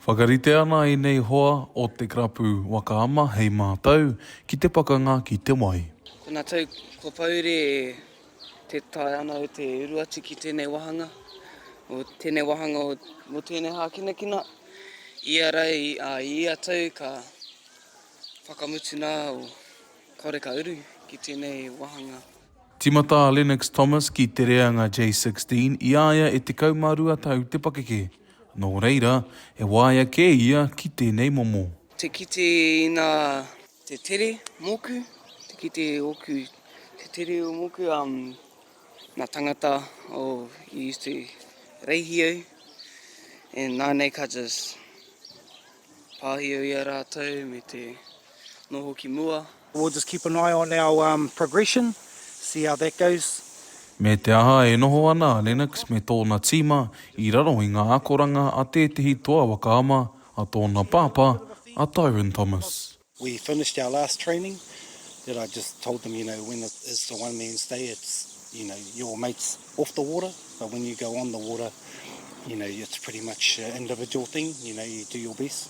Whakarite ana ēnei hoa o te karapu waka ama hei mātau ki te pakanga ki te wai. Tena tau kua pahure e te tae ana o te uru atu ki tenei wahanga, o tenei wahanga o mo tenei hakinakina, ia ra i a ia tau ka whakamutu na o kaore ka uru ki tenei wahanga. Timata a Lennox Thomas ki Te Reanga J16 i a ia e 12 tau te pakeke. Nō reira, he waea kē ia ki tēnei momo. Te kite ina te tere moku, te kite oku te tere o moku, na tangata o you used to reihi au and nanei ka just pahio ia ratou me te noho ki mua. We'll just keep an eye on our progression, see how that goes. Me te aha e noho ana a Lennox me tōna tīma i raro i ngā akoranga a tētehi toa waka ama a tōna pāpā, a Tyrone Thomas. We finished our last training that I just told them, you know, when it is the one man's day, it's, you know, your mates off the water, but when you go on the water, you know, it's pretty much an individual thing, you know, you do your best.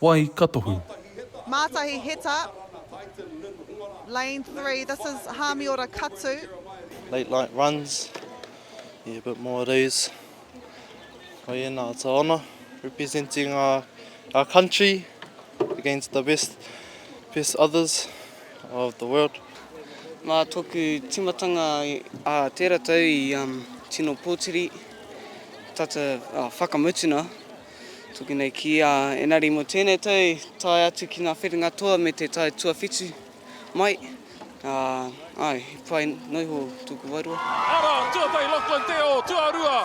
Wai ka tohu. Mātahi Heta, lane three, this is Hāmiora Katu. Late light runs, yeah a bit more of these. Koiena, it's a honour representing our, our country against the best, best others of the world. Mā tōku tīmatanga ā tērā tau i um, tino pōtiri, tata uh, whakamutuna Tuku nei ki a Enari mo tenei tau i tae atu ki nga whenua toa me te tau tuawhitu mai. Ae, he pai no iho tuku wairua. Ara, tuatahi Lachlan Te Ō, tuarua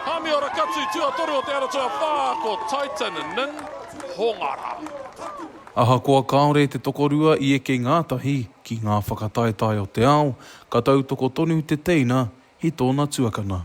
Hami Ora Katu, tuatoru o Te Ara Tuawhā ko Titan Nin Hongara. Ahakoa kāore te tokorua i eke ngātahi ki ngā whakataetae o te ao, ka tautoko tonu te teina i tōna tuakana.